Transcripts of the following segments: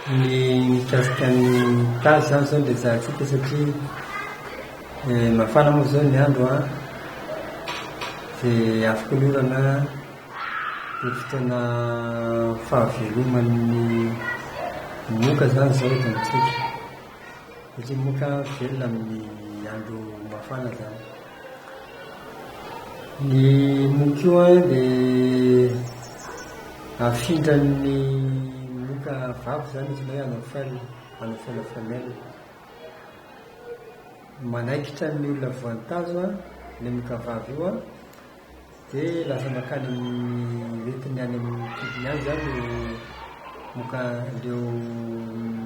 Ny mikasika ny cas izany izao no rejahantsika satria mafana moa izao ny andro an, dia afaka ny orana an, dia fotoana fahaveloman'ny moka izany izao eto amintsika satria moka velona amin'ny andro mafana izany. Ny moka io an dia afindran'ny moka vavy izany izy ilay hanao fel, hanao fel à femelle. Manaikitra ny olona voan'ny tazo an, ilay moka vavy io an. Dia lasa mankany amin'ny retina any amin'ny kidney any izany ilay moka an'ireo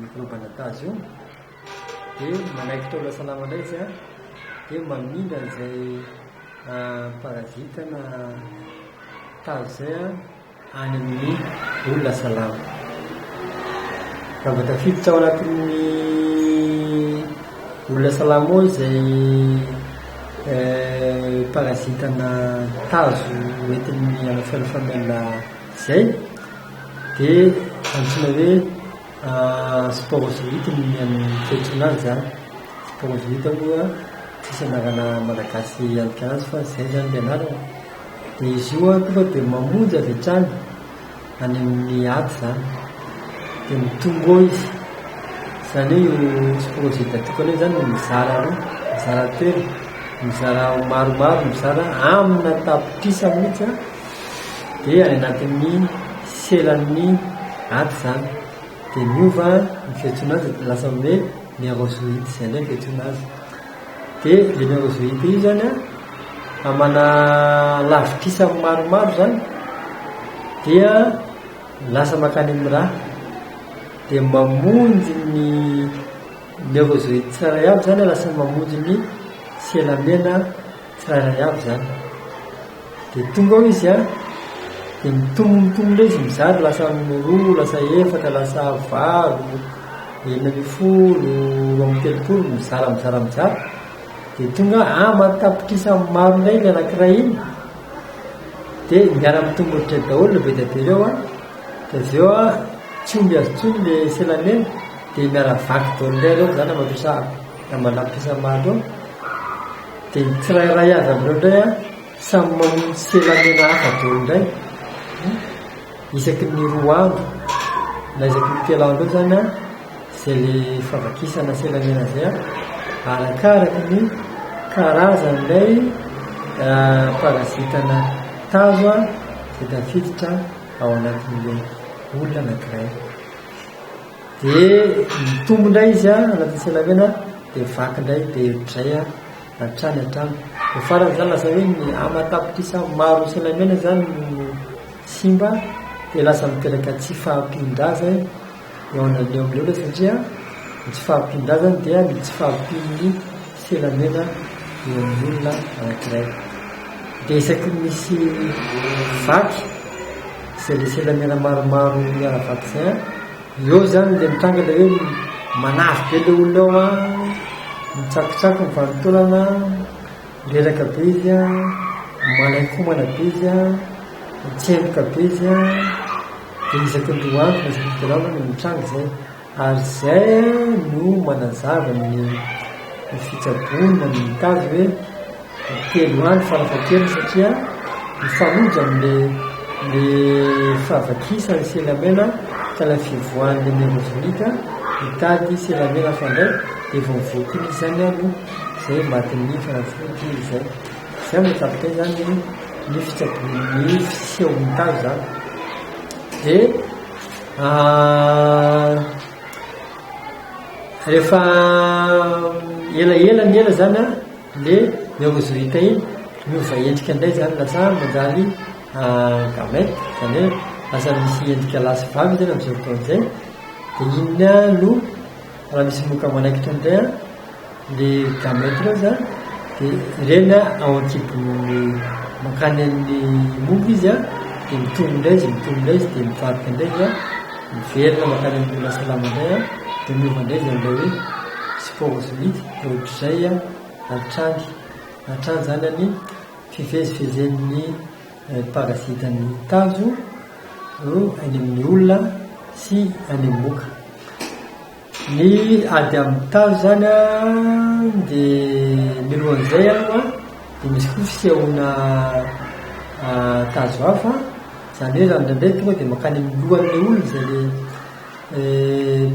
mikrôba natazy io. Dia manaiky taola salama indray izy an, dia mamindra an'izay parazita na tazy izay an. any amin'ny olona salama. Namba tafiditra ao anatin'ny olona salama ao izay eh, parazitana tazo entin'ny alafialofamela izay dia antsoina hoe ah, sporozoite ny amin'ny toetrina azy zany sporozoite moa tsisy anarana malagasy antika azy fa izay zany ny anarana dia izy io an tonga dia mamonjy avy hatrany any amin'ny aty izany dia mitombo izy izany hoe io projet datokana io izany mizara roa mizara telo mizara maromaro mizara amina tapitrisa mihitsy an dia any anatin'ny selan'ny aty izany dia miova ny fiantsoana azy dia lasa hoe ny arrosonite izay indray ny fiantsoana azy Dia générosité io izany an, amana lavitrisa maromaro izany dia lasa mankany amin'ny ra, dia mamonjy ny neurozoïde tsirairay avy izany an, lasa mamonjy ny sela mena, Tsirairay avy izany. Dia tonga ao izy an, dia mitombo mitombo indray izy mizara lasa roa, lasa efatra, lasa valo, enina ambin'ny folo, roa amby telopolo, mizara mizara mizara. Dia tonga an, aman-tapitrisa maro indray ilay anankiray iny. Dia miara mitombo ohatray daholo ilay be dia be ireo an. Dia avy eo an, tsy omby azy intsony ilay selamena, dia miara vaky daholo indray ireo, izany na mandroso na manapy isa maro eo. Dia ny tsirairay avy amin'ireo indray an, samy mamono sela mena hafa daholo indray, isaky ny roa andro na isaky ny telo andro eo izany an, izay ilay favakisana sela mena izay an, arakaraky ny karazan'ilay parazitana tazo an, izay tafiditra ao anatin'ilay olona anankiray. Dia mitombo indray izy an, anatin'ny tsenamena, dia vaky indray, dia ohatr'izay an, hatrany hatrany. Dia faran'izany lasa hoe ny ama tapitrisa maro ny tsenamena izany no simba, dia lasa miteraka tsy fahampian-drazana eo an'ireo olona ireo satria ny tsy fahampian-drazana dia ny tsy fahampian'ny filaminana eo amin'ny olona anankiray. Dia isaky ny misy vaky, izay ilay filaminana maromaro miara-vaky izay an, eo izany ilay mitranga ilay hoe manavy be ilay olona eo an, mitsakotsako ny vanin-taolana an, reraka be izy an, manainkomana be izy an, mitsemboka be izy an, dia isaky ny roa andro na isaky ny telo andro no mitranga izay. Ary izay no manazava ny ny fitsaboany na ny mitady hoe ny telo andro farafahakeliny satria mifanojo amin'ilay ilay fahavakisan'i Selamena ka ilay fivoahan'ny Amérozonita hitady Selamena hafa indray dia vao mivoaka iny izy izany ary no izay matin'ny fanafody izay. Izay no ahatakatra izany ny ny fitsaboan'ny ny fisehon'ny tazo izany. Dia. Rehefa elaela ny ela zany an, le ny ôvozorita iny miova endrika indray zany lasa manjary gamete, zany hoe lasa misy endrika lahy sy vavy izy amin'izao fotoana izao, dia iny no Raha misy loka manaikitra an'izay an, le gamète reo zany, de ireny an ao ankibo mankany amin'ny mofo izy an, de mitombo indray izy, mitombo indray izy, de mivadika indray izy an, miverina mankany amin'ny loha salama indray an, de miova indray izy amin'ilay hoe sporozoite, de ohatr'izay an hatrany, hatrany zany an ny fivezivezen'ny. ny parasitan'ny tazo eo any amin'ny olona sy any amin'ny moka. Ny ady amin'ny tazo zany an, dia milohan'izay aloha dia misy koa fisehoana tazo hafa, zany hoe zany indraindray tonga dia mankany amin'ny lohan'ilay olona zay le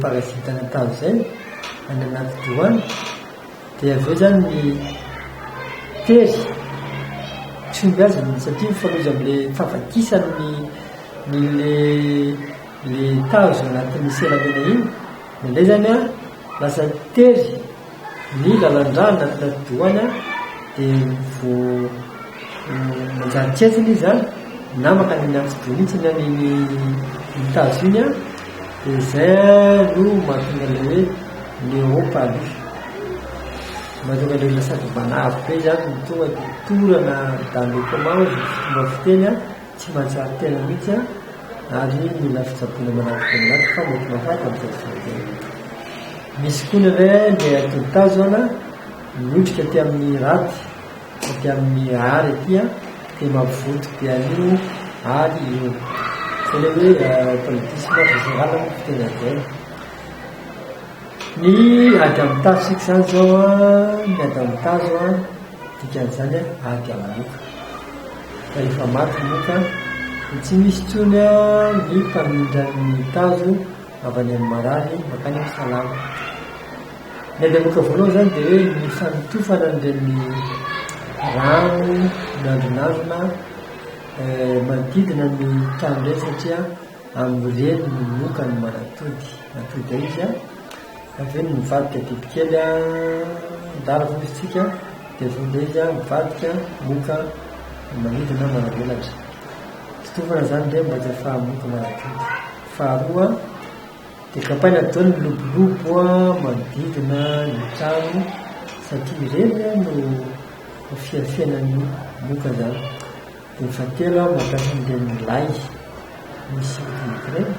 parasitana tazo zay any anaty doha any. Dia avy eo izany ny tery tsy omby azy ny initiative fa loza amin'ilay fahavakisany ny ny le le tazo anatin'ny selamena iny nendrey zany an lasa tery ny lalandrà anaty atidohany an dia vo manjary tsy etsiny izy an na mankany amin'ny atidoha mihitsy ny tazo iny an Dia izay no mahatonga ilay hoe Leopaly. Mahatonga ilay lasa mpanavy be izany no tonga dia dorana dans le coma hoe ny fomba fiteny tsy mahatsiaro tena mihitsy ary mila fitsaboana manampy dia manampy fa mety mahafaty amin'izay tsy voatery. Misy koa ny hoe Néanderthal zao an, miotrika aty amin'ny raty. Aty amin'ny Art aty an, dia mavivoto be an'io Art io. Izay ilay hoe politisme azo isinganana ny fiteny adin. Ny ady amin'ny tazo isika izany izao an, ny ady amin'ny tazo an, dikan'izany an, ady amin'ny moka. Fa efa maty moka an, dia tsy misy intsony an ny mpamindra ny tazo avy any amin'ny marary mankany amin'ny salama. Ny ady amoka voalohany izany dia hoe ny fanotofana an'ireny rano miandrinandrina manodidina ny trano ireny satria amin'ireny no moka ny manatody. Atody ao izy an, avy eo ny mivadika bibikely adala hono izy tsika dia vonona izy an, mivadika, moka, manidy na manavelatra. Totofana izany indray mba tsy ahafahan'ny moka manatody. Faharoa, Dia kapaina daholo ny lobolobo manodidina ny trano satria ireny no fiafenan'ny moka izany. Dia fahatelo aho mampiasa an'ireny lay misy lobolobo ireny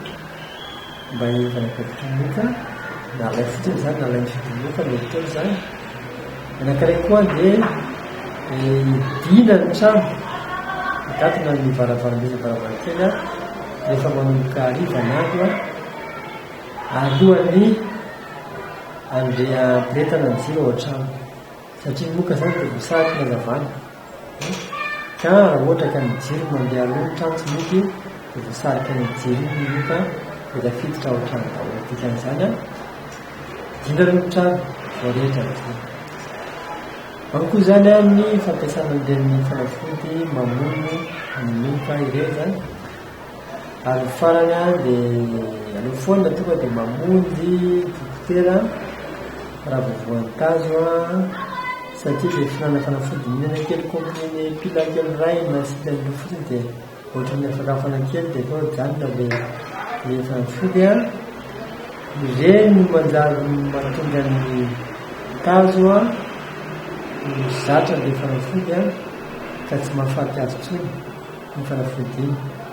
mba hiarovana ny moka, na lay fotsiny izany na lay misy lobolobo, mety daholo izany. Anankiray koa dia midina ny trano, mikatona ny varavarambe sy ny varavarankely rehefa manomboka hariva ny andro, alohan'ny handeha hampirehetana ny jiro ao an-trano, satria moka izany dia voasariky ny hazavana. Ka raha ohatra ka ny jiro no mandeha aloha ny trano tsy mety io dia voasarika ny jiro iny ny loka dia tafiditra ao trano daholo dikan'izany an dina aloha ny trano vao rehetra ny jiro ao koa izany an ny fampiasana an'ireny fanafody mamono ny loka ireny izany ary ny farany a dia aleo foana tonga dia mamonjy dokotera raha vao voankazo a satria dia fihinanana fanafody mihinana kely comprimé pila kely iray na asiana an'io fotsiny dia ohatran'ny afakafana kely dia tonga dia any ilay ilay fanafody a ireny no manjary mahatonga ny tazo a no zatra ilay fanafody a ka tsy mahafaty azy intsony ny fanafody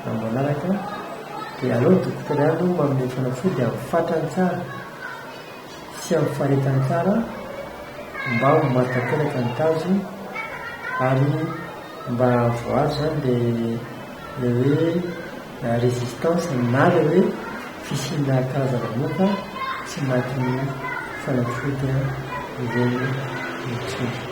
raha mbola araka dia aleo ny dokotera ihany no manome fanafody amin'ny fatrany tsara sy amin'ny faharetany tsara mba ho maty tanteraka ny tazo ary mba voazo zany le le hoe résistance na le hoe fisiana karazana moka tsy matin'ny fanafody ireny mitsondra